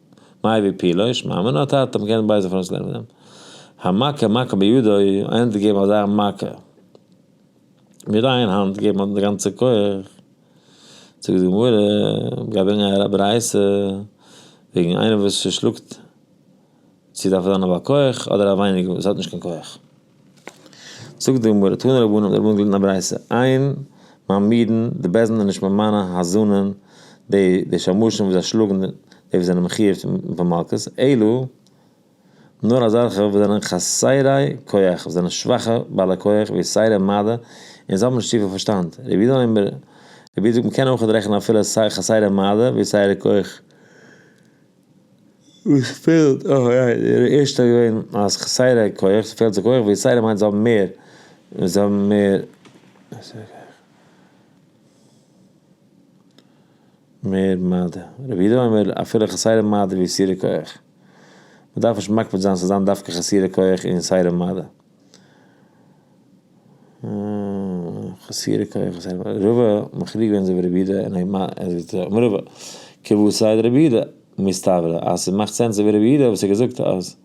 מאי ווי פילוש מאמין האט האט האט גענט בייזער פארן עס לערנען אים המכה מכה בידו ענדערש געבן אזא מכה מיט איין האנט געבן האט די גאנצע כח זאגט די גמרא גייט ברענגען א ברייתא וועגן איינער וואס שלאגט צו דארף ער זיין א בעל כח אדער א ווייניגער וואס האט נישט קיין כח. זאגט די גמרא, תנו רבנן, דער רבן האט געהאלטן א ברייתא, איין מיין מידן, די בעזעם איז נישט מיט מיינע האזאנען, די שמשים וואס זיי שלאגן, די וואס זענען מחוייב פון מלקות, אלא נאר אזעלכע וואס זענען חסרי כח, וואס זענען שוואכע בעלי כח, ווי סיירא מעדה, און זיי האבן נישט צופיל פארשטאנד, רבי יהודה אומר, רבי יהודה זאגט, מען קען אויכעט רעכענען אפילו חסרי מעדה, ווי סיירא כח, וואס פעלט אויך אריין אין איר ערשטער געווען אז כסדר כח ס'פעלט זיי כח ווי סדר מיינט זיי האבן מער זיי האבן מער מער מדה רבי יהודה אומר אפילו כסדר מדה ווי סדר כח מ'דארף נישט מקפיד זיין ס'זאל זיין דווקא כסדר כח און סדר מדה. חסירי קרח זענען א רובא מחליק ווען זיי ווען רבי יהודה און אויב אז איז דער אמרי רבא כבוד סיי די רבי יהודה מסתברא אז ס'מאכט סענס איבער רבי יהודה וואס ער געזאגט אז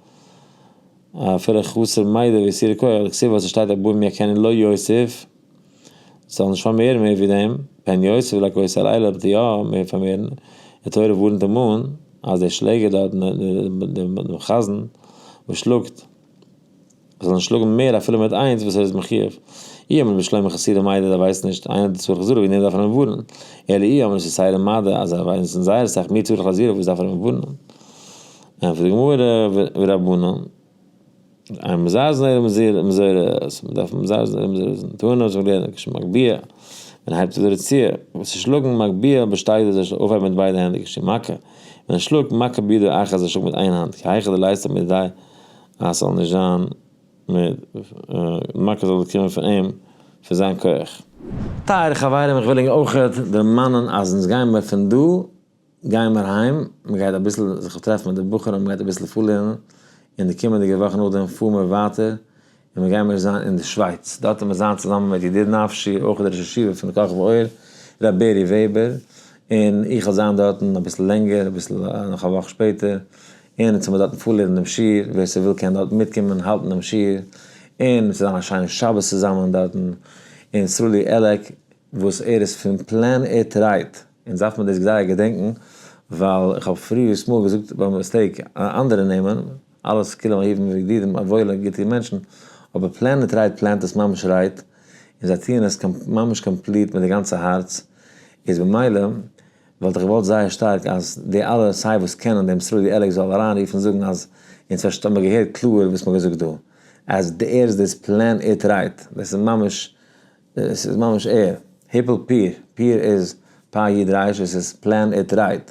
אפילו חסר מידע ווי סירי קרח לכסיבה וואס ס'שטייט א בן יקנן לא יוסיף זאל נישט פארמערן מער ווי דעם פן יוסיף לא כוס הלילה וועט ער יא מער פארמערן די תורה ווארנט אים אן אז דער שלעגער דארט דעם חזן וואס שלאגט זאל נישט שלאגן מער אפילו מיט איינס וואס ער איז מחיוב. אי אמר רבי שלמה חסידי מדע אז ער ווייסט נישט, איינער האט צורך זרע וועגן דעם דארף ער אים ווארענען, אלא אי אמר שסיידע מדע אז ער ווייסט און זייער אסאך מער צורך לזרע וואס דארף ער אים ווארענען? ענטפערט די גמרא ורבנן אין מזרזין אלא מזורז מען דארף מזרזין אלא מזורזין טענה וואס מען לערנט כש מגביה מען הייבט אויף די רצועה וואס איז שלאגן מגביה בשתיים אזוי זאל אויפהייבן מיט ביידע הענט כש מכה מען שלאגט מכה ביד אחת אזוי זאל שלאגן מיט איין האנט כהיכא דלעיסתא מידי אז ס'זאל נישט זיין מיט מכה זאל קומען פון אים פון זיין כח. טייערע חברים איך וויל אונג אויך דערמאנען אז אונז גיימער פון דא גיימער היים מ'גייט אביסל זיך טרעפן מיט די בחורים מ'גייט אביסל פארלערנען און די קומענדיגע וואך נאכדעם פאר מיר ווייטער און מיר גיימיר זיין אין די שווייץ, דארט וועט מען זיין צוזאמען מיט ידיד נפשי אויך די ראש ישיבה פון כוכב האור ר' בערי וועבער, און איך וועל זיין דארטן אביסל לענגער אביסל נאך א וואך שפעטער, און אונז וועמיר דארטן פארלירן דעם שיעור, ווער ס'וויל קען דארטן מיטקומען האלטן דעם שיעור, און ס'וועט זיין א שיינע שבת צוזאמען דארטן, און סרולי עלעק וואס ער איז פון פלען איט רייט, אונז דארף מיר דאס זייער געדענקן, ווייל איך האב פריערס מאל געזאגט ביי מיסטעיק אנדערע נעמען. אלע סקולען אהובים וידידים וואוילע גוטע מענטשן, אבער פלען איט רייט פלענט עס ממש רייט, און זיי טוען עס ממש קאמפליט מיט די גאנצע הארץ, איז במילא וואלט איך געוואלט זייער שטארק אז די אלע סיי וואס קענען דעם סרולי עלעקס זאל אריין רופן זאגן אז אונז פארשט האמיר געהערט קלאר וואס מהאט געזאגט דא אז די ער איז דאס פלען איט רייט דאס איז ממש עס איז ממש ער היפל פיר פיר איז פאר איד רייש עס איז פלען איט רייט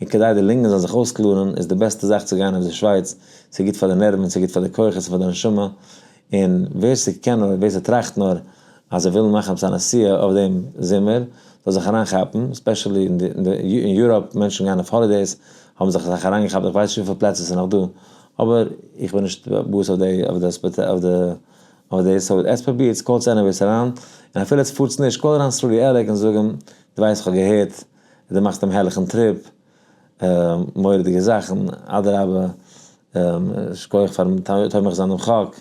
און כדי די לונגען זאלן זיך אויסקלארן איז די בעסטע זאך צו גיין אויף די שווייץ, ס'איז גוט פאר די נערוון, ס'איז גוט פאר די כוחות און פאר די נשמה, און ווער ס'קען נאר, ווער ס'טראכט נאר אז ער וויל מאכן עפעס א נסיעה אויף דעם זומער, זאל זיך אריינכאפן, ספעשעלי אין יוראפ, מענטשן גייען אויף האלידעיס, האבן זיך אסאך אריינגעכאפט, איך ווייס נישט וויפיל פלעצער ס'איז נאך דא, אבער איך בין נישט באס אויף דעיס, סאו עטס פרובירטס, קאלטס עניוועיס אריין, און אפילו עטס פארטס נישט, קאל אריין סרולי עלעק און זאג אים, דו ווייסט איך האב געהערט. דו מאכסט דעם הערליכן טריפ, מורא'דיגע זאכן, אדרבה, שכוח פארן תומך זיין דעם חק,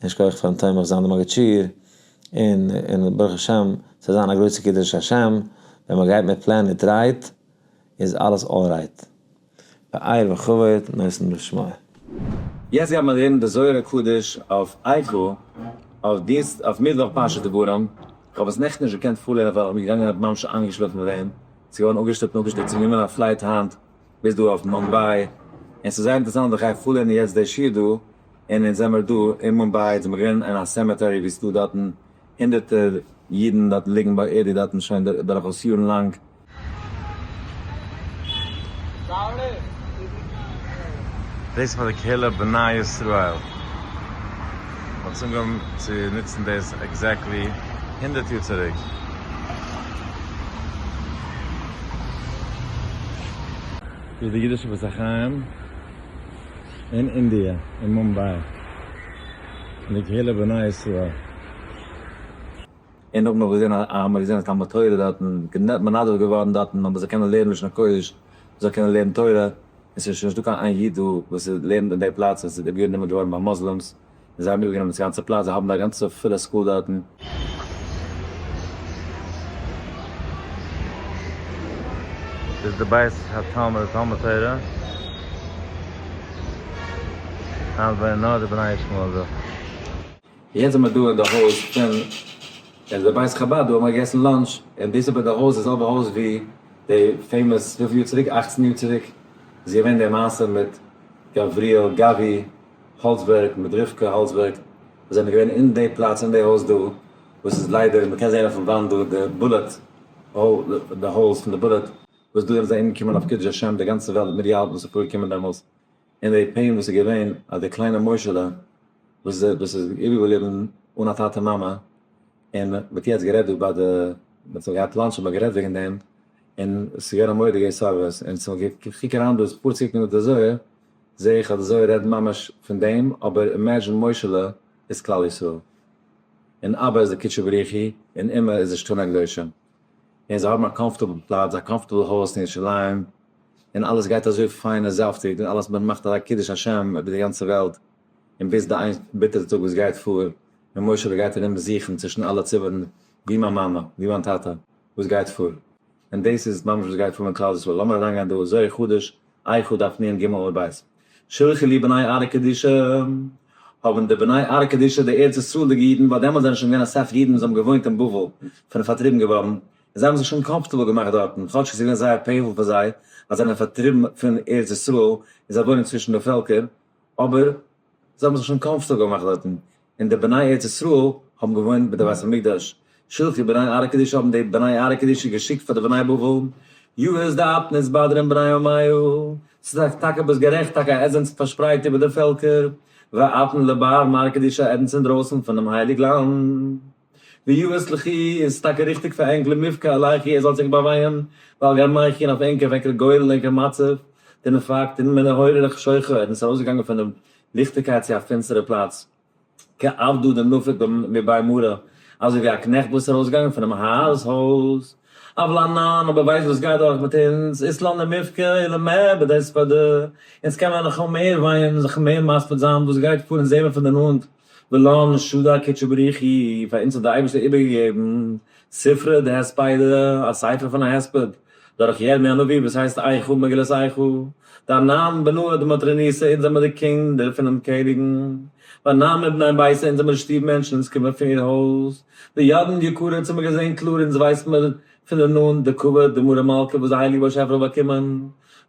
און שכוח פארן תומך זיין דעם מגיד שיעור, און ברוך השם ס'זאל זיין א גרויסע קידוש השם, ווען מ'גייט מיט פלען מיט רייד איז אלעס אלרייט. באייר וכבוד נושאים לשמים. יעצט גייט מען לערנען די זוהר הקדוש אויף איכה, אויף דינסט אויף מיטוואך פרשת דברים, כ'האב עס נעכטן נישט געקענט פארלערנען ווייל כ'בין געגאנגען האב ממש איינגעשלאפן ווען ס'איז געווארן אפגעשטופט און אפגעשטופט ס'איז גענומען א פלייט היינט ביז דא אויף מומביי, און ס'איז זייער אינטערסאנט איך גיי פארלערנען יעצט די שיעור דא, און אונז זעמער דא אין מומביי אונז האמיר געלערנט אין א סעמעטערי ווי ס'איז דא דארטן. הונדערטער אידן דארט ליגן באערדיגט דארטן שוין דורכאויס יארן לאנג. דאס איז פאר די קהילה בני ישראל. מ'האט עס אנגעהויבן צו נוצן דאס עקזעקטלי הונדערט יאר צוריק. דאס איז די אידישע בית החיים אין אינדיע, אין מומביי. פון די קהילה בני ישראל. און נאך מיר האבן געזען אז מיר האבן געזען אז תלמוד תורה דארטן גענוג מנדב געווארן דארטן אז מען זאל קענען לערנען לשון הקודש, מען זאל קענען לערנען תורה, און עס איז שוין נישטא קיין איין איד דא וואס איז לערנט אין די פלאץ, עס איז איבערגענומען געווארן ביי מוסלימס, און זיי האבן איבערגענומען דאס גאנצע פלאץ, זיי האבן א גאנצע פולע סקול דארטן. איז די בית התלמוד א תלמוד תורה? היינט וואוינען נאר די בני ישמעאל דא. יעצט זעמער דא אין די הויז פון אין די בית חבד דא האבן מיר געגעסן לאנטש און דאס איז ביי די הויז די זעלבע הויז ווי די פעימאס וויפיל יאר צוריק אכצן יאר צוריק איז געווען די מעשה מיט גבריאל גבי. האלצבערג מיט רבקה האלצבערג זענען געווען אין די פלאץ אין די הויז דא וואס איז ליידער מען קען זעהן אויפן וואנט דא די בולעט די האולס פון די בולעט וואס דא איז אומגעקומען אויף קידוש השם די גאנצע וועלט איז מיטגעהאלטן וואס איז פארגעקומען דעמאלס אין די פעין וואס איז געווען אז די קליינע מוישעלע וואס איז איבערגעבליבן אן א טאטע מאמע און מען האט יעצט גערעדט דא ביי די מען האט זיך געהאט לאנטש האט מען גערעדט וועגן דעם און עס איז געווען א מורא די געס האבערס און כ'קוק אריין דא איז פארציקן מיט די זוהר. זעה איך אז אזוי רעדן ממש פון דעם, אבער אימעדזשין מושה'לע איז כלל ישראל, און אבא איז די קודשא בריך הוא, און אמא איז די שטן הקדושים, און זיי האבן א קאמפארטעבל פלאץ, א קאמפארטעבל הויז אין ירושלים, און אלעס גייט אזוי פיין און זאפטיג, און אלעס מען מאכט אזא קידוש השם איבער די גאנצע וועלט, און ביז די איין ביטערע טאג וואס גייט פאר, און מושה'לע גייט ארום זוכן צווישן אלע ציבורים ווי מיין מאמע, ווי מיין טאטע, וואס גייט פאר. און דאס איז ממש וואס גייט פאר מיט כלל ישראל, לאמיר אריינגיין דא ז' חודש אייר חו דף נ ג עמוד ב', שלחו לי בני ערה קדישא, האבן די בני ערה קדישא די ארץ ישראל'דיגע אידן, ווייל דעמאלטס זענען שוין געווען אסאך אידן וואס האבן געוואוינט אין בבל, זענען פארטריבן געווארן, און זיי האבן זיך שוין קאמפארטעבל געמאכט דארטן, כאטש עס איז געווען זייער פעינפול פאר זיי אז זיי זענען פארטריבן פון ארץ ישראל און זיי וואוינען צווישן די פעלקער, אבער. זיי האבן זיך שוין קאמפארטעבל געמאכט דארטן, און די בני ארץ ישראל האבן געוואוינט ביי די בית המקדש. שלחי בני ארה קדישא האבן די בני ארה קדישא געשיקט פאר די בני בבל, יהוס דעת נתבדרין בני עמיו, ס'איז טאקע ביז גערעכט, טאקע אז עטס זענטס פארשפרייט איבער די פעלקער, ואתן לבאר מארה קדישא עדנס אינדרויסן פונעם הייליג לאנד. ויועץ לכי איז טאקע ריכטיג פאר ענק למבכה עליכי ער זאל זיך באווייען ווייל גאר מייכין אויף ענק אוועק א גורל אין ענקער מצב דער נפאקט אין מען נהורא רח שוחא און איז ארויסגעגאנגען פון דעם ליכטיגקייט צו א פינסטערע פלאץ כעבדא דנפק ב מבאי מרא אזוי ווי א קנעכט וואס איז ארויסגעגאנגען פונעם האר'ס הויז אבל אנן אבער ווייסט וואס גייט דורך מיט אונז איז לא למבכה אלא מעבד העספדא אונז קען מען נאך אמער ווייען זיך מער מספיד זיין וואס גייט פאר אונז זעהן מיר פון די נאנט ולא נשדא קודשא בריך הוא, פאר אונז האט דער אייבערשטער איבערגעגעבן ספרא דהספיידא, א ספר פון א הספד, דורך ירמי' הנביא וואס הייסט איכה מגילת איכה, דאנן בנו עד מטרניסה אונז זעמער די קינדער פונעם קעניגן, ואנן מבני ביתו אונז זעמער די שטוב מענטשן אונז קומען פון איר הויז, די ידען יקרה צו מיר געזען קלאר אונז ווייסט מיר פון די נאנט די כבוד די מרה מלכה וואס די הייליגע באשעפער האט באקומען,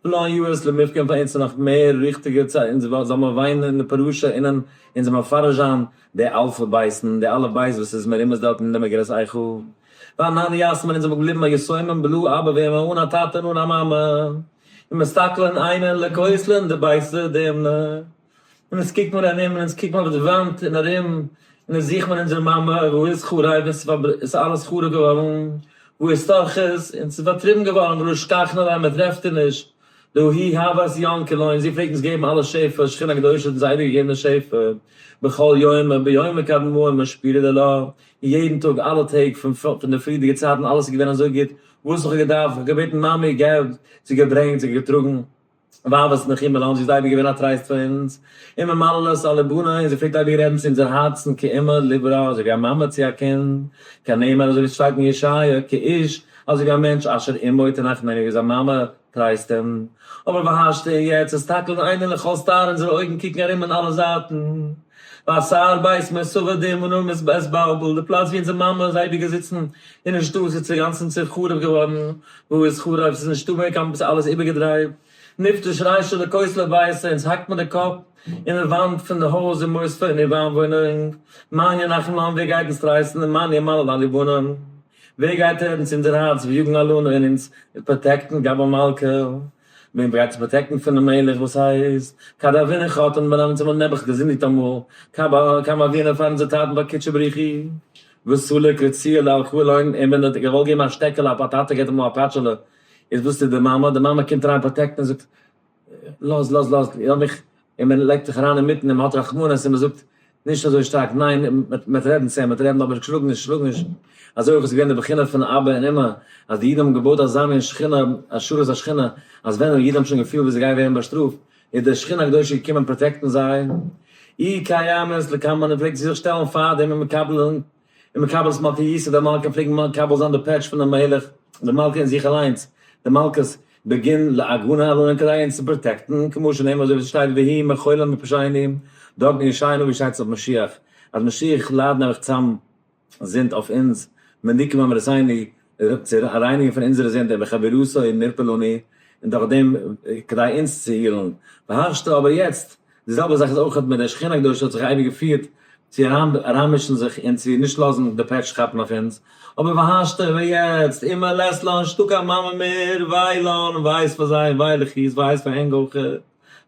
ולא היו עוד למפגעים פאר אונז נאך מער ריכטיגע צ ע אונז וואלט זאל מען וויינען אין די פרשה און אין אונז מפרש זיין די אלפי בייסן די אלע בית וואס איז מרומז דארטן אין די מגילת איכה ואנן יאסמין אונז זענען געבליבן א יתומים בלא אבא ואם אן א טאטע און אן א מאמע און מסתכלין עיניהן לכותלין די בית ודמנה. און אונז קוקט מיר ארום און אונז קוקט מיר אויף די וואנט און ארום און אונז זוכט מיר אונזער מאמע, וואו איז חרוב און ס'איז אלעס חרוב געווארן, וואו איז תרכז און ס'איז פארטריבן געווארן ולא אשכחנה להם מען טרעפט איר נישט, דא היא הבת יענקל'ה און זי פלעגט אונז געבן אלע שפע, שכינה הקדושה האט אונז אייביג געגעבן די שפע, בכל יום וביומו כדמעה מען שפירט די לה, יעדן טאג אלע טעג פון די פריערדיגע צייטן אלעס איז געווען אזוי גוט, וואס האב איך געדארפט, איך האב געבעטן מאמי געב, זי האט געברענגט, זי האט געטראגן. ווייב וואס איז נאך אימער לאנג זי איז אייביג געווען א טרייסט פאר אונז און מיר מללות על לבנה און זי פלעגט אייביג רעדן צו אונזער הארצן כאימא ליברה אזוי ווי א מאמע צו א קינד כנאמר אזוי ווי עס שטייט אין ישעיה כאיש אזוי ווי א מענטש אשר אמו תנחם אזוי ווי זיין מאמע טרייסט אים אבער והשתא און יעצט הסתכלין עינינו לכל סתר אונזערע אויגן קוקן ארום אין אלע זייטן והשיער בית מסובב דהימנו מסבעסבעלבל די פלאץ ווי אונזער מאמע איז אייביג געזיצן אינעם שטוב איז צעגאנצן צעחרוב געווארן. וואו איז חרוב? ס'איז נישטא מער קיין, ס'איז אלעס איבערגעדרייט, נפטר שרייט שלא כוס לא בייסה, אונז האקט מען די קאפ אין די וואנט פון די הויז און מוסדות און איבער איינוואוינונג, מאניה נחמהון ווער גייט אונז טרייסטן און מאניה מלא לליבונן ווער גייט רעדן צו אונזער הארץ ויגן עלינו און אונז פראטעקטן גאב המלכה וועם גייט אונז פראטעקטן פונעם מלך וואס הייסט כד אבינו חתן בן אמת און מלך נעבעך געזינדיגט אמאל כמה אבינו פאר אונזער טאטן ביי קודשא בריך הוא. וואס ס'ליגט לציר לאלקוהל אויגן, און ווען ער האט געוואלט געבן א שטעקעלע א פאטאטא געט ער אמאל א פאטשעלע, איז וואס טוט די מאמע, די מאמע קומט אריין פראטעקטן און זאגט לאז לאז לאז לאז מיך, און מען לייגט זיך אריין אינמיטן און מען האט רחמנות און מען זאגט נישט אזוי שטארק, ניין מען מען וועט רעדן צו אים, מען וועט רעדן אבער שלאג נישט שלאג נישט, אזוי אויך איז געווען די בחינה פון אבא און אמא, אז די אידן האבן געבויט אזא מין שכינה, השארת השכינה, אז ווען די אידן האבן שוין געפילט ווי זיי גייען ווערן באשטראפט, איז די שכינה הקדושה געקומען פראטעקטן זיי, אי קיימת לקמא נ פלעגט זי זיך שטעלן פאר דעם און מקבל זיין און מקבל זיין מלכי יסוד המלכה פלעגן מקבל זיין די פעטש פונעם מלך די מלכה אין זיך אליינס די מלכות בגין להגנה עלינו כדי אונז צו פראטעקטן כמו שנאמר אזוי ווי עס שטייט והיא מחולה מפשעי עניים דאגן ישעינו ווי שטייט עס אויף משיח אז משיח ליידן אויך צאם זינד אויף אונז, מניקי ממרסיני, צו רייניגן פון אונזערע זינד, און בחבירותו נרפא לנו, און דורכדעם כדי אונז צו הילן. והשתא אבער יעצט, די זעלבע זאך איז אויך מיט די שכינה הקדושה האט זיך אייביג געפירט צו אריין אריינמישן זיך און צו נישט לאזן די פעטש כאפן אויף אונז, אבער והשתא אבער יעצט, און מען לאזט לאנשטא קיין מאמע מער, וויי לאן, וויי איז פאר זיי און וויי לכיס, וויי איז פאר ענק אויך.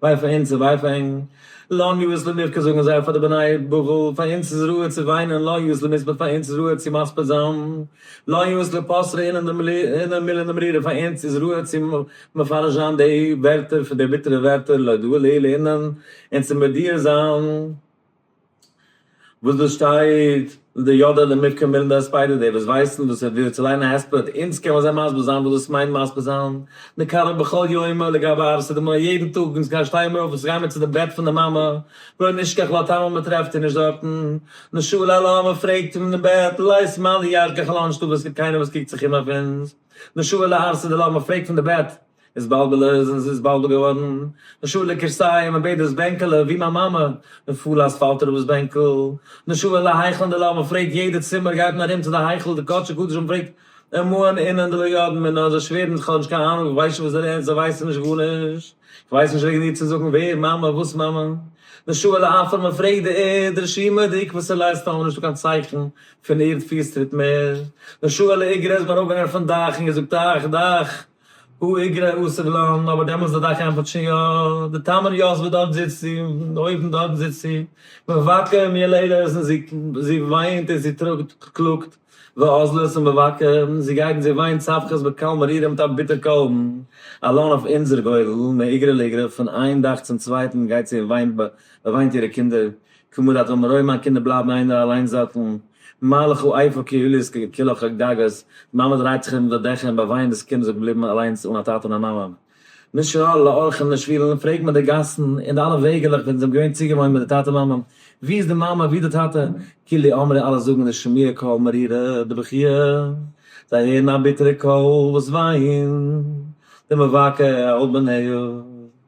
וויי פאר אונז און וויי פאר ענק. לנו איז למבכה זאגן זיי פאר די בני בבל, פאר אונז איז ראוי צו וויינען, לנו איז למזמור פאר אונז איז ראוי צו מספיד זיין, לנו איז לפסרא אינעם מילין המרירה פאר אונז איז ראוי צו מפרש זיין די ווערטער פון די ביטערע ווערטער להודאה לאל אינעם און צו מודיע זיין. וואס דאס שטייט אין די יודע למקרא מילים בהספדא, דער וואס ווייסט און וואס ער וויל צו ליינען א הספד, אונז קען מען זיי מסביר זיין וואס דאס מיינט מסביר זיין, נקרא בכל יומא לגבי אהבת אדמור ר, יעדן טאג אונז גיין שטייען מיר אויף אונז גייען מיר צו די בעט פון די מאמע, לא נשכח לא תאמר מען טרעפט איר נישט דארטן, נשאל על האמר פרעגט פון די בעט, לית מאן דהישגיח על האנשטאב עס איז קיינער וואס קוקט זיך אום אויף אונז, נשאל על הארסי דלא האמר פרעגט פון די בעט. איז באַלד געלאָזט און זי איז באַלד געוואָרן נשאָה לקירסאי, מע בעט דאָס בענקעלע, ווי מײַן מאַמע, און פֿאָלאָז פֿאַלט אָראָפּ דאָס בענקל. נשאָה אל ההיכל דלא, מע פֿרעגט יעדער צימער, גייט מען אַרום צו דער היכל, די קאָטשע-קדשים, מע פֿרעגט אין מאַן אינען דלא ידען מיר, נאָר זיי שווערן, איך האָב נישט קיין אַנונג, איך ווייס נישט וואָס דער ערנסט, זיי ווייסן נישט גאָרנישט, איך ווייס נישט וועגן איר צו זאָגן, ווער, מאַמע, וואָס, מאַמע? נשאָה אל האַפֿער, מע פֿרעגט די ערד, רשימה די עיקבֿות און לייסטן, האָבן מיר נישטאָ קיין צייכן פֿון ערד-פֿיסטריט מער. נשאָה אל איגרת, מע אַראָפּגעגאַנגען פֿון דאַך און געזאָגט, אַך, דאַך! א איגרע אסור לן, אבער דעמאלס איז דאך ענפערט שוין יא, די טעם און יאס וואס דארט זיצט זי, אויבן דארטן זיצט זי, מבקר מי אל עדות און זי זי וויינט און זי טראגט קלאגט ועזלות און מבקר זי גייט און זי וויינט צווחת בקול מרירה מיט א ביטער קול א לן אויף אונזער גורל, מאיגרא לאיגרא פון איין דאך צום צווייטן גייט זי און וויינט וויינט אירע קינדער כמו דאתו מראה מיין קינדער בלייבן איינער אליין זאקן, מה לך איפה קהילות כלך הגגות, די מאמע דרייט זיך ארום די דעכער און באוויינט דאס קינד איז געבליבן אליינס אן א טאטע און א מאמע. משהה לאורחים לשבילים פרעג מען די גאסן און די אלע וועגעלעך ווען זיי האבן געווען צוגעוואוינט מיט די טאטע מאמע, ווי איז די מאמע ווי די טאטע, כולי אמרי אלע זאגן די שמוע קול מרירה דבכיה, זיי הערן א ביטערע קול וואס וויינט, די מבכה האב בניו.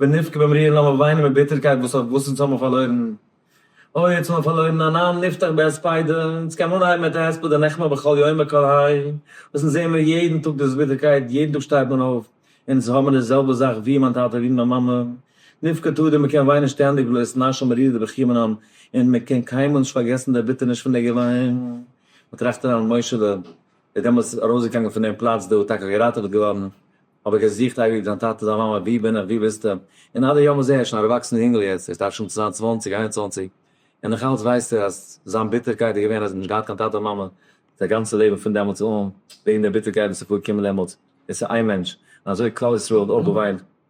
ונבכה במרי און לאמיר וויינען מיט ביטערקייט וואס אויף וואס אונז האבן פארלוירן. אוי יעצט האבן מיר פארלוירן אן עם נפתח בהספידא, אונז קען מען אנהייבן מיט א הספד דנחמא בכל יום בקול האי, וואס אונז זעהן מיר יעדן טאג דאס ביטערקייט, יעדן טאג שטייט מען אויף, אונז האבן די זעלבע זאך ווי מיין טאטע ווי מיין מאמע. נבכה תדיר מען קען וויינען שטענדיג ולא יסנא שם מרירי דבכי' מן העם, און מען קען קיינמאל נישט פארגעסן די ערביטערניש פון די געוויין. מען טראכט אריין מיט מוישעלע. איז דעמאלטס ארויסגעגאנגען פון דעם פלאץ דא, טאקע געראטעוועט געווארן, אבער געזוכט אייביג דיין טאטע, דיין מאמע, ווי בין איך, ווי ביסטו, און עד היום הזה, ער איז שוין א ערוואקסענער יונגעל יעצט, ער דארף שוין צוויי און צוואַנציק, איין און צוואַנציק, און נאך אלץ ווייסט ער אז זיין ביטערקייט איז געווען אז ער האט נישט געהאט קיין טאטע מאמע זיין גאנצע לעבן פון דעמאלטס אן, וועגן דער ביטערקייט וואס איז פארגעקומען דעמאלטס, עס איז איין מענטש, און אזוי האט כלל ישראל אויך געוויינט,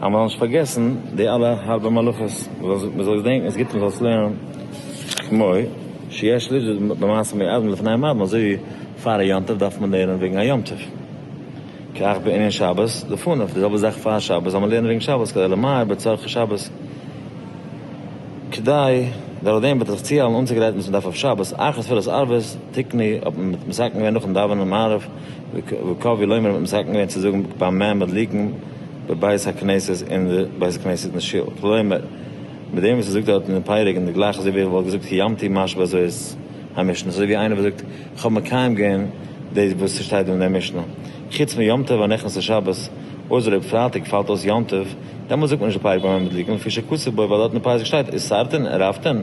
אז מען זאל נישט פארגעסן די אלע הארבע מלאכות, מען זאל געדענקן עס גוט מען זאל עס לערנען כמו שיש לראות במעשה מי אדם לפני המאדים, אזוי ווי פאר א יום טוב דארף מען לערנען וועגן א יום טוב, כך בענין שבת לפניו, די זעלבע זאך פאר שבת זאל מען לערנען וועגן שבת כדי למהר בצרכי שבת, כדי דורך דעם וועט זיך צוהיילן אנצוגרייטן וואס מען דארף אויף שבת, אחרי תפילת ערבית תקני האט מען מסכם געווען נאכן דאווענען מעריב וקווי לומר האט מסכם געווען צו זאגן ביים מעמד ליגן בבית הכנסת אין די בית הכנסת אין די שול כלומר מיט דעם וואס ער זאגט דארט אין די פרק און די גלייך אזוי ווי ער וואלט געזאגט קיימתי ממש בזאת המשנה אזוי ווי איינער וואס זאגט איך האב מקיים געווען דאס וואס ס'שטייט אין די משנה חוץ מיום טוב הנכנס לשבת אויסער אויב פרייטאג פאלט אויס יום טוב דעמאלט זאגט מען נישט די פרק ביים מעמד ליגן לפי שכתוב בו ווייל דארט אין די פסוק שטייט איסרתן ערבתן.